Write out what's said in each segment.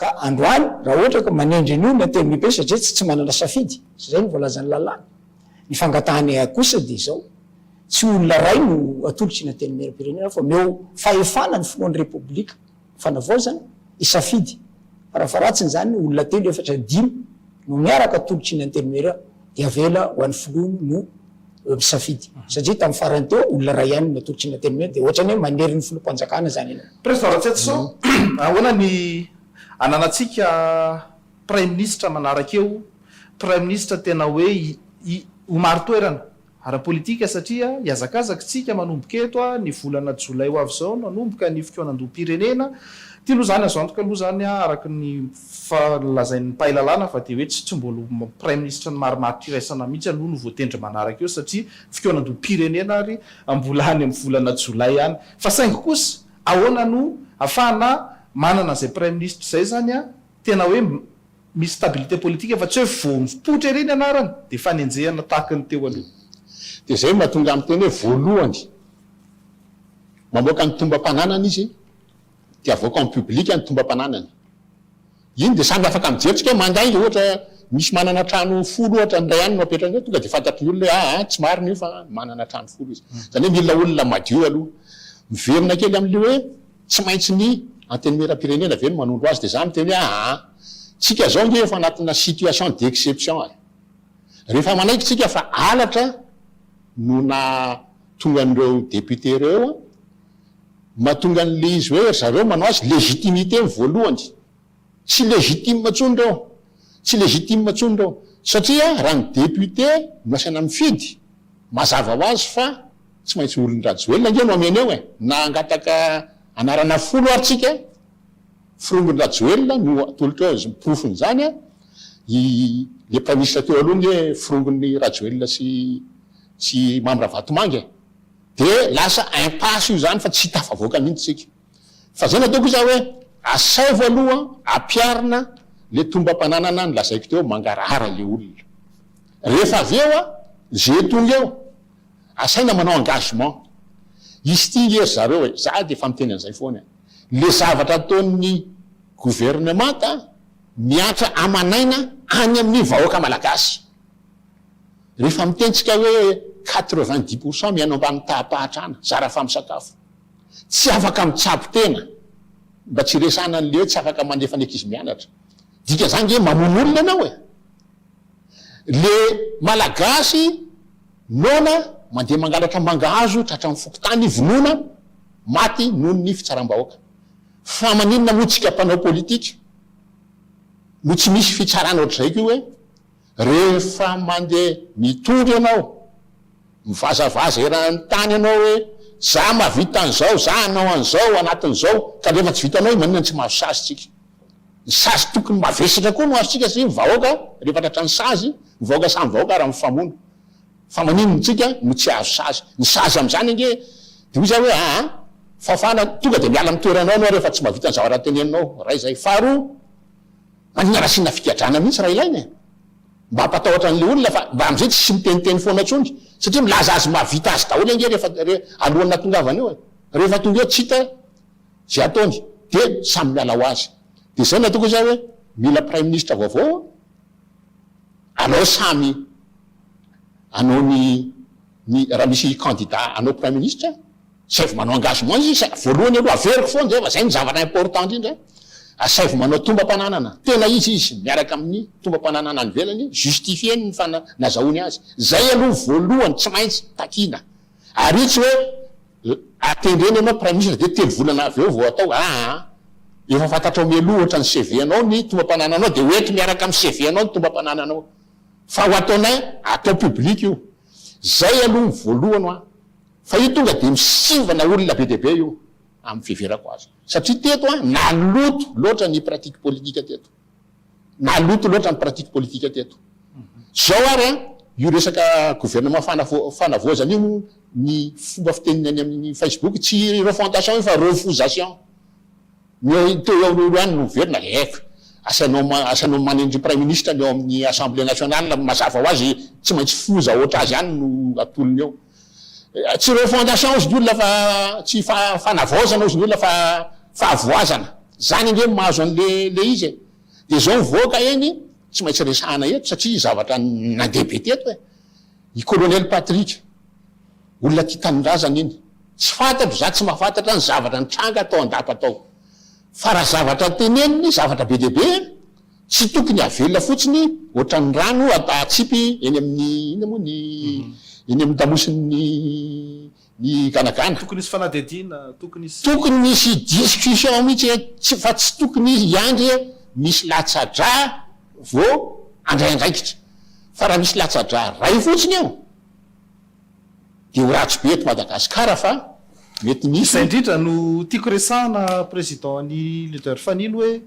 Ka androany raha ohatra ka manendry an'io ny antenimibe satria tsy tsy manana safidy, izay no voalazan'ny lalàna. Ny fangatahanay ahy kosa dia izao, tsy olona iray no atolotry ny antenimieram-pirenena fa omeo fahefana ny filohan'ny Repoblika fanavaozana hisafidy, farafaharatsiny izany olona telo, efatra, dimy no miaraka atolotry ny antenimieram-. Dia avela ho an'ny filoha no misafidy. Satria tamin'ny farany teo, olona iray ihany no natolotry ny Antenimiera, dia ohatrany hoe manery ny filoham-panjakana izany ianao. Prezda Ratsiatiso, ahoana ny ananantsika praiminisitra manaraka eo, praiminisitra tena hoe ho marin-toerana ara-politika satria hihazakazakitsika manomboka eto ny volana jolay ho avy izao no hanomboka ny fikaonandoham-pirenena, tianao izany azo antoka aloha izany araka ny Fa nolazain'ny mpahay lalàna fa dia hoe tsy tsy mbola ho Praiminisitra ny marimaritra iraisana mihitsy aloha no voatendry manaraka eo satria fikaonandoham-pirenena ary mbola any amin'ny volana jolay any. Fa saingy kosa ahoana no afahana manana an'izay Praiminisitra izay izany an? Tena hoe misy stabilité politique fa tsy hoe vao mipoitra ery ny anarany dia fanenjehana tahaka ny teo aloha. Dia izay no mahatonga ahy miteny hoe voalohany mamoaka ny tombam-pananana izy dia avoaka en public ny tombam-pananany. Iny dia samy afaka mijery tsika hoe mandainga ohatra misy manana trano folo ohatra ny iray any no apetrany eo tonga dia fantatry ny olona hoe aa tsy marina io fa manana trano folo izy. Izany hoe mila olona madio aloha. Miverina kely amin'ilay hoe tsy maintsy ny antenimieram-pirenena ve no manondro azy dia za miteny hoe aa tsika izao ange efa anatina situation d'exception e. Rehefa manaiky tsika fa halatra no nahatonga an'ireo députés ireo eo mahatonga an'le izy hoe ry zareo manao azy légitimité ny voalohany. Tsy légitime intsony reo, tsy légitime intsony reo satria raha ny député no asaina mifidy, mazava ho azy fa tsy maintsy olon-dRajoelina ange no amena eo e! Na hangataka anarana folo ary tsika, forongon-dRajoelina no atolotra eo ny porofon'izany a! I le praiministra teo aloha ange forongon'i Rajoelina sy sy Mamy Ravatomanga e! Dia lasa impasse io izany fa tsy tafavoaka mihitsy tsika. Fa izay no ataoko izaho hoe, asaivo aloha ampiharina ilay tombam-pananana nolazaiko teo, mangarahara ilay olona. Rehefa avy eo, izay tonga eo, asaina manao engagement. Hisy tia nge ry zareo e! Izaho dia efa miteny an'izay foana e! Ilay zavatra ataon'ny governemanta mihatra aman'aina any amin'ny vahoaka malagasy. Rehefa mitentsika hoe quatre-vingt-dix pour cent miaina ambany taha-pahatrana, zara fa misakafo, tsy afaka mitsabo tena, mba tsy hiresahana an'ilay hoe tsy afaka mandefa ny ankizy mianatra. Dika zany nge mamono olona ianao e! Le Malagasy noana mandeha mangalatra mangahazo tratran'ny fokontany vonoina maty noho ny fitsaram-bahoaka. Fa maninona moa tsika mpanao politika no tsy misy fitsarana ohatr'izay koa hoe Rehefa mandeha mitondra ianao, mivazavaza eran'ny tany ianao hoe, za mahavita an'izao, za hanao an'izao anatin'izao, kanefa tsy vitanao io, maninona no tsy mahazo sazy tsika? Ny sazy tokony mavesatra koa no azontsika satria ny vahoaka rehefa tratran'ny sazy, ny vahoaka samy vahoaka ary mifamono. Fa maninona antsika no tsy hahazo sazy? Ny sazy amin'izany ange dia hoy za hoe, aa, fahafahana, tonga dia miala amin'ny toeranao ianao rehefa tsy mahavita ny zavatra teneninao, iray izay. Faharoa. Anina nasiana figadrana mihitsy raha ilaina e! Mba hampatahotra an'le olona fa mba amzay tsy miteniteny foana tsony satria milaza azy mahavita azy daholo ange rehefa alohan'ny natongavany eo e! Rehefa tonga eo tsy hita ze ataony de samy miala ho azy! De zay no ataoko hoe za hoe mila praiminisitra vaovao anao samy anao ny ny raha misy kandida anao praiminisitra Asaivo manao engagement izy sa voalohany aloha averiko foana zay fa zay no zavatra important indrindra asaivo manao tombam-pananana tena izy izy miaraka amin'ny tombam-pananana any ivelany justifier-ny ny fana nazahoany azy zay aloha voalohany tsy maintsy takiana ary tsy hoe atendrena ianao praiminisitra dia telo volana avy eo vao atao aa efa fantatrao mialoha ohatra ny CV anao ny tombam-panananao dia ho ento miaraka amin'ny CV anao ny tombam-panananao fa ho ataonay atao public io zay aloha ny voalohany hoa Fa io tonga dia misivana olona be dia be io amin'ny fiheverako azy. Satria teto an, naloto loatra ny pratique politique teto. Naloto loatra ny pratique politique teto. Zao ary an, io resaka gouvernement fanavo, fanavaozana io, ny fomba fiteniny any amin'ny Facebook, tsy refontation io fa refusation. Ny eo, teo eo eo ihany no miverina, eef, asainao, asainao manendry Praiminisitra ny ao amin'ny Assemblée Nationale, mazava ho azy tsy maintsy foza ohatr'azy ihany no atolony eo. Tsy refondation ozy ny olona fa tsy fanavaozana ozy ny olona fa fahavoazana. Zany ange no mahazo anle le izy e. De zao mivoaka eny tsy maintsy resahana eto satria zavatra nandeha be teto e. I colonel Patrick olona tia tanindrazana iny. Tsy fantatro za tsy mahafantatra ny zavatra nitranga tao an-dapa tao. Fa raha zavatra teneniny zavatra be dia be e. Tsy tokony havelona fotsiny ohatran'ny rano atsipy eny amin'ny inona moa ny eny amin'ny tamosin'ny ny ganagana. Tokony hisy fanadihadiana, tokony hisy. Tokony misy discussion mihitsy hoe tsy fa tsy tokony hiandry hoe misy latsa-drà vao handray andraikitra. Fa raha misy latsa-drà iray fotsiny eo. Dia ho ratsy be eto Madagascar fa mety misy. Izay indrindra no tiako resahana Président an'i Leader Fanilo hoe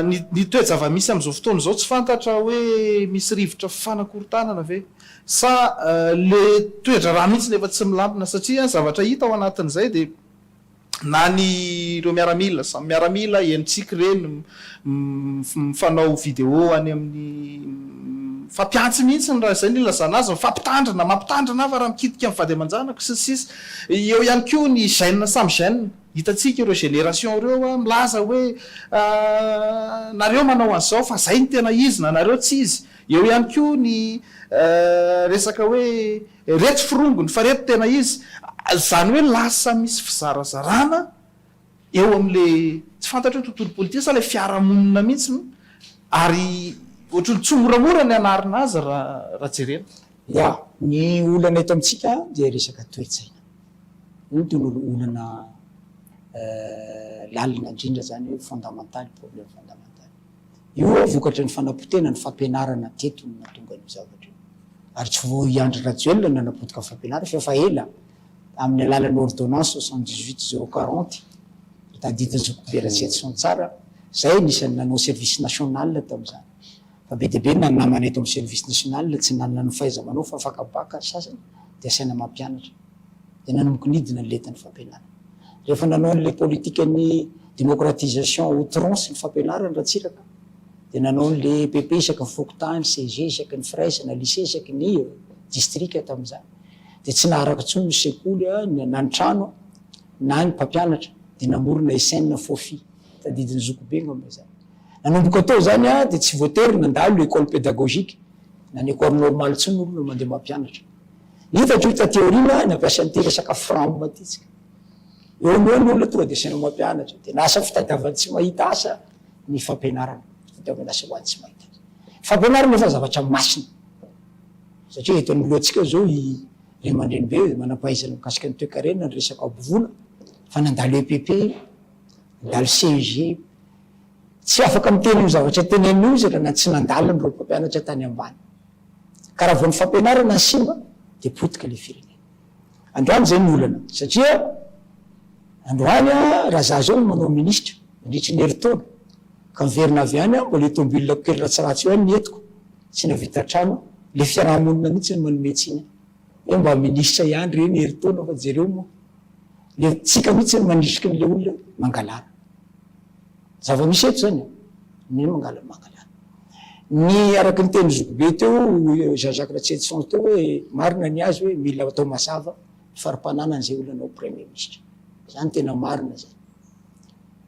ny ny toe-javamisy amin'izao fotoana izao tsy fantatra hoe misy rivotra fifanakorontanana ve sa le toe-draharaha mihitsy no efa tsy milamina satria zavatra hita ao anatin'izay dia na ny ireo miaramila, samy miaramila, henontsika ireny mifanao vidéo any amin'ny, mifampihantsy mihitsy raha izay no ilazana azy, mifampitandrina, mampitandrina aho fa raha mikitika ny vady aman-janako, sy ny sisa Eo ihany koa ny gènes samy gènes, hitantsika ireo générations ireo milaza hoe nareo manao an'izao fa izay no tena izy na nareo tsy izy, eo ihany koa ny resaka hoe, Reto forongony fa reto tena izy, izany hoe lasa misy fizarazarana eo amin'ilay tsy fantatro hoe tontolo politika sa ilay fiarahamonina mihitsy no ary ohatran'ny tsy moramora ny hanarina azy raha jerena. Ya, ny olana eto amintsika dia resaka toe-tsaina. Io no tena olana lalina indrindra izany hoe fondamental, problème fondamental. Io ve vokatry ny fanapotehana ny fampianarana teto no nahatonga an'io zavatra io? Ary tsy vao i Andry Rajoelina no nanapotika ny fampianarana fa efa ela amin'ny alalan'ny ordonnance soixante dix huit zéro quarante tadidin'ny zoky be Ratsety sy Antsara, izay anisan'ny nanao service national tamin'izany. Fa be dia be ny namana eto amin'ny service national tsy nanana ny fahaiza-manao fa afaka bac ary sasany dia asaina mampianatra. dia nanomboka nidina ny lentan'ny fampianarana. Rehefa nanao an'ilay politikan'ny démocratisation outrance ny fampianarana Ratsiraka dia nanao an'ilay EPP isaky ny fokontany, CEG isaky ny firaisana, lycée isaky ny distrika tamin'izany. Dia tsy naharaka intsony ny sekoly na ny trano na ny mpampianatra dia namorona SN Fofi, tadidin'ny zokibe angamba izany. Nanomboka teo izany dia tsy voatery nandalo école pédagogique na ny école normale intsony ny olona mandeha mampianatra. Hitako io taty aoriana nampiasa an'ity resaka fram ity tsika. Eo no eo ny olona tonga dia saina mampianatra. Dia lasa fitadiavan'ny tsy mahita asa ny fampianarana. Fitadiavana asa ho an'ny tsy mahita asa. Fampianarana efa zavatra masina. Satria eto anoloantsika izao i ray aman-dreny be manam-pahaizana mikasika ny toekarena, ny resaka hampivoana, fa nandalo EPP, nandalo CEG. Tsy afaka miteny io zavatra tenenina io izy raha tsy nandaliny ireo mpampianatra tany ambany. Ka raha vao ny fampianarana simba dia potika ilay firenena. Androany izay no olana satria androany raha za zao no manao ministra mandritry ny herintaona ka miverina avy any mbola io tomobilako kely ratsiratsy io ihany no entiko, tsy nahavita trano, ilay fiaraha-monina mihitsy no manome tsiny hoe mba ministra ihany reny herintaona fa jereo moa ilay tsika mihitsy no manisiky an'ilay olona mangalana. Zava-misy eto zany e. Ny hoe mangalana mangalana. Ny araky ny tenin'i zokibe teo, Jean Jacques Ratsietison teo hoe marina ny azy hoe mila atao mazava ny fari-pananany izay olona anao premier ministre. Zany tena marina zany.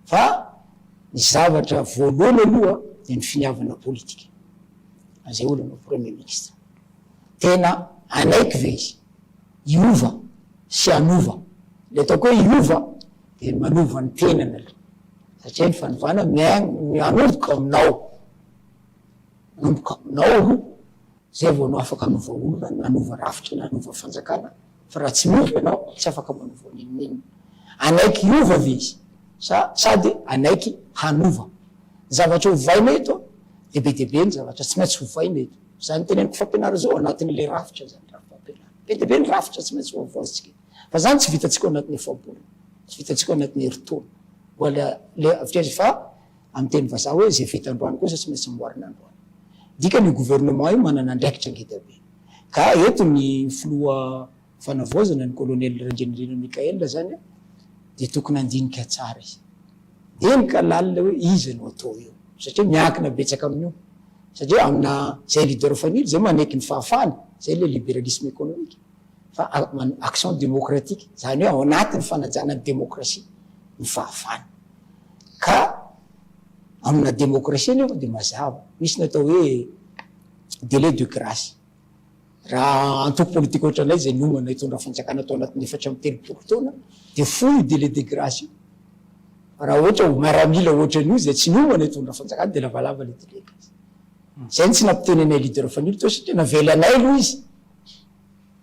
Fa ny zavatra voalohany aloha dia ny finiavana politika an'izay olona anao premier ministre. Tena hanaiky ve izy hiova sy hanova? Ilay ataoko hoe hiova Dia manova ny tenany aloha, satria ny fanovana mianomboka aminao, manomboka aminao aloha, zay vao anao afaka hanova olona, na hanova rafitra, na hanova fanjakana, fa raha tsy miombona ianao, tsy afaka manova n'inon'inona. Hanaiky hiova ve izy? Sa sady hanaiky hanova? Ny zavatra hovaina eto an, dia be dia be ny zavatra tsy maintsy hovaina eto. Izany teneniko fampianarana izao anatin'ilay rafitra izany, rafitra fampianarana. Be dia be ny rafitra tsy maintsy hovaozintsika eto. Fa zany tsy vitantsika ao anatin'ny efa-bolana, tsy vitantsika ao anatin'ny herintaona. Mbola le avy aiza fa amin'ny teny vazaha hoe zay vita androany kosa tsy maintsy amboarina androany. Dikany io gouvernement io manana andraikitra ngeda be. Ka eto ny filoha fanavaozana ny colonel Randrianirina Michael zany dia tokony handinika tsara izy. Eny ka lalina hoe iza no atao eo. Satria miankina betsaka amin'io. Satria amina zay leader fanilo zay manaiky ny fahafahana, zay le liberalisme économique. fa action démocratique, izany hoe ao anatin'ny fanajana ny demokrasia ny fahavalo. Ka amina demokrasia anefa dia mazava, misy ny atao hoe délai de grace. Raha antoko politika ohatranay izay niomana hitondra fanjakana tao anatin'ny efatra amby telopolo taona dia fohy io délai de grace io. Fa raha ohatra ho maramila ohatra an'io izay tsy niomana hitondra fanjakana dia lavalava ilay délai de grace. Izay no tsy nampiteny anay leader Fanilo teo satria navelanay aloha izy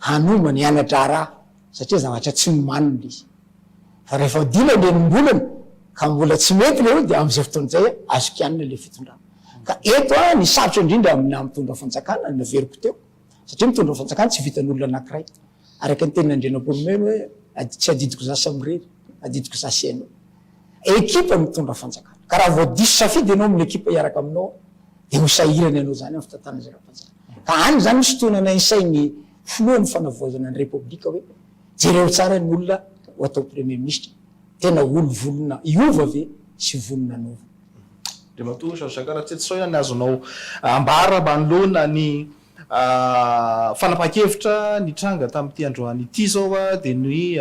hanomba ny hana-draharaha satria zavatra tsy nomaniny ilay izy. Fa rehefa odiana ny enim-bolana ka mbola tsy mety ilay hoe dia amin'izay fotoana izay azo kianina ilay fitondrana. Ka eto an, ny sarotra indrindra aminà mitondra fanjakana, ny averiko teo, satria mitondra fanjakana tsy vitan'olona anankiray. Araka ny tenin'Andrianampoinimerina hoe, tsy adidiko za samirery, adidiko za sy ianao. Ekipa mitondra fanjakana. Ka raha vao diso safidy ianao amin'ny ekipa hiaraka aminao dia ho sahirana ianao izany amin'ny fitantanana izay ara-panjakana. Ka any izany misy tohina nainsain'ny filohan'ny fanavaozana ny repoblika hoe, jereo tsara ny olona ho atao premier ministra, tena olo vonona hiova ve sy vonona hanova. Andriamatoa Jean Jacques Ratsiritsao ihany ny azonao ambara manoloana ny fanapahan-kevitra nitranga tamin'ity androany ity izao dia ny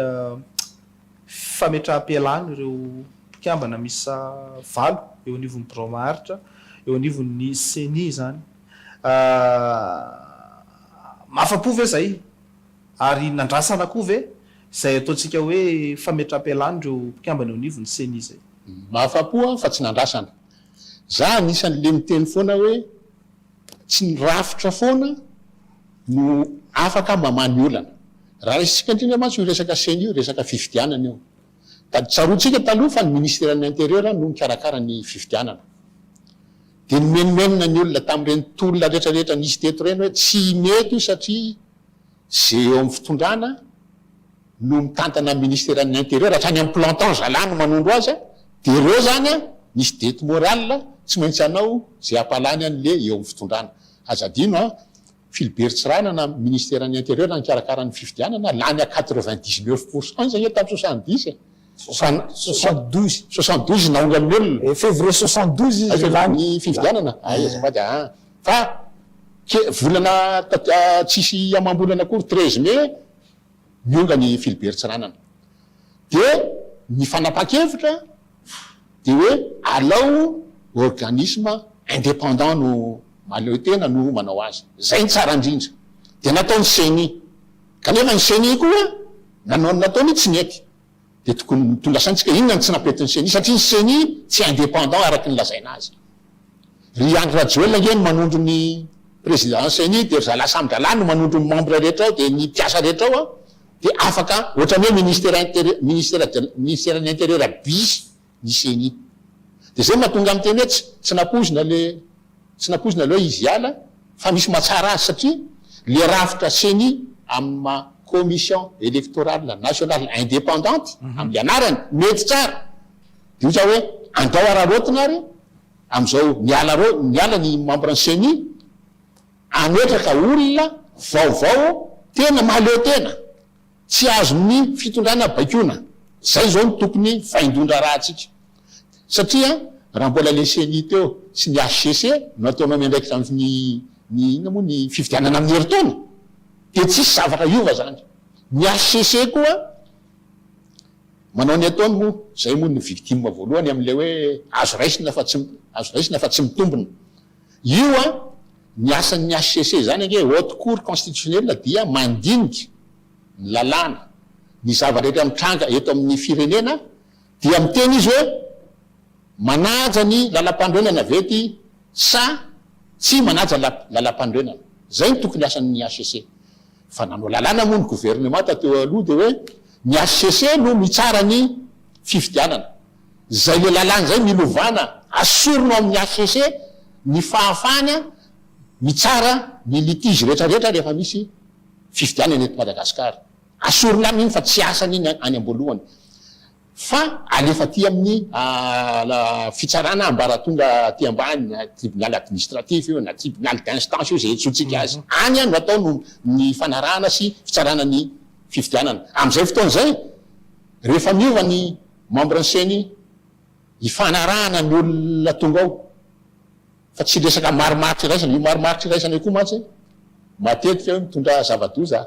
fametraham-pialana ireo mpikambana miisa valo eo anivon'ny birao maharitra, eo anivon'ny Ceni izany. Mahafa-po ve izay? Ary nandrasana koa ve izay ataontsika hoe fametraham-pialana ireo mpikambana eo anivon'ny Ceni izay? Mahafa-po aho fa tsy nandrasana. Izaho anisan'ilay miteny foana hoe. Tsy ny rafitra foana no afaka mamaha ny olana. Raha raisintsika indrindra mantsy io resaka ceni io, resaka fifidianana io. Dia tsaroantsika taloha fa ny Ministeran'ny Intérieur no nikarakara ny fifidianana. Dia nimenomenona ny olona tamin'ireny tolona rehetrarehetra nisy teto ireny hoe tsy mety io satria. Ze eo amin'ny fitondrana no mitantana ny ministeran'ny interieur hatrany amin'ny plantant zalahy no manondro azy a! de ireo zany a! misy dette morale a! tsy maintsy hanao ze hampalany an'i le eo amin'ny fitondrana! aza adino a! Philibert Tsiranana ministeran'ny interieur nikarakara ny fifidianana lany à quatre-vingt-dix-neuf pour cent izy anie tamin'ny soixante-dix e! Soixante, soixante douze. Soixante douze naongan'ny olona. Eh, février soixante douze izy Aiza lany. ny fifidianana? Ay, azafady aa. Fa ke, volana taty a, tsisy amam-bolana akory, treize mai, niongan' i Philibert Tsiranana. Dia ny fanapahan-kevitra dia hoe alao organisme indépendant no mahaleo tena no manao azy. Izay ny tsara indrindra. Dia natao ny ceni. Kanefa ny ceni koa nanao ny nataony tsy nety. Dia tokony tondrasaintsika inona no tsy nampiety ny ceni satria ny ceni tsy indépendant araky ny lazaina azy. Ry Andry Rajoelina ange no manondro ny président ny ceni dia ry zalahy samy dralahy no manondro ny membre rehetra ao dia ny mpiasa rehetra ao dia afaka ohatrany hoe ministère interieur, ministère de, ministère ny interieur bis ny ceni. Dia izay no mahatonga miteny hoe tsy tsy nampoizina le tsy nampoizina le hoe izy hiala fa misy mahatsara azy satria le rafitra ceni amin'ny maha commission electorale nationale independante amin'ny anarany mety tsara dia ohatra hoe andao araraotina ary amin'izao miala reo miala ny membre ny ceni hametraka olona vaovao tena mahaleo tena Tsy azon'ny fitondrana baikoina, zay izao no tokony faindon-draharahantsika. Satria raha mbola le ceni teo sy ny HCC no ataonao miandraikitra amin'ny ny inona moa ny fifidianana amin'ny herintaona dia tsisy zavatra hiova zany. Ny HCC koa manao ny ataony moa zay moa no victime voalohany amin'ilay hoe azo raisina fa tsy azo raisina fa tsy mitombina. Io an, ny asan'ny hcc izany ange, Haute Cour Constitutionnelle, dia mandinika ny lalàna, ny zava-drehetra mitranga eto amin'ny firenena, dia miteny izy hoe manaja ny lalampanorenana ve ity sa tsy manaja lalampanorenana. Izay no tokony asan'ny hcc. Fa nanao lalàna moa ny governemanta teo aloha dia hoe ny hcc no mitsara ny fifidianana. Izay ilay lalàna izay milovàna, asorina ao amin'ny hcc ny fahafahana mitsara ny litige rehetrarehetra rehefa misy fifidianana eto Madagasikara. Asorina any iny fa tsy asany iny any am-boalohany. Fa alefa aty amin'ny fitsarana ambaratonga aty ambany na tribunal administratif io na tribunal d'instance io izay iantsoantsika azy. Any no atao no ny fanarahana sy fitsarana ny fifidianana. Amin'izay fotoana izay, rehefa miova ny membre ny ceni, hifanarahana ny olona tonga ao fa tsy resaka marimaritra iraisana. Io marimaritra iraisana io koa mantsy matetika hoe mitondra zava-doza.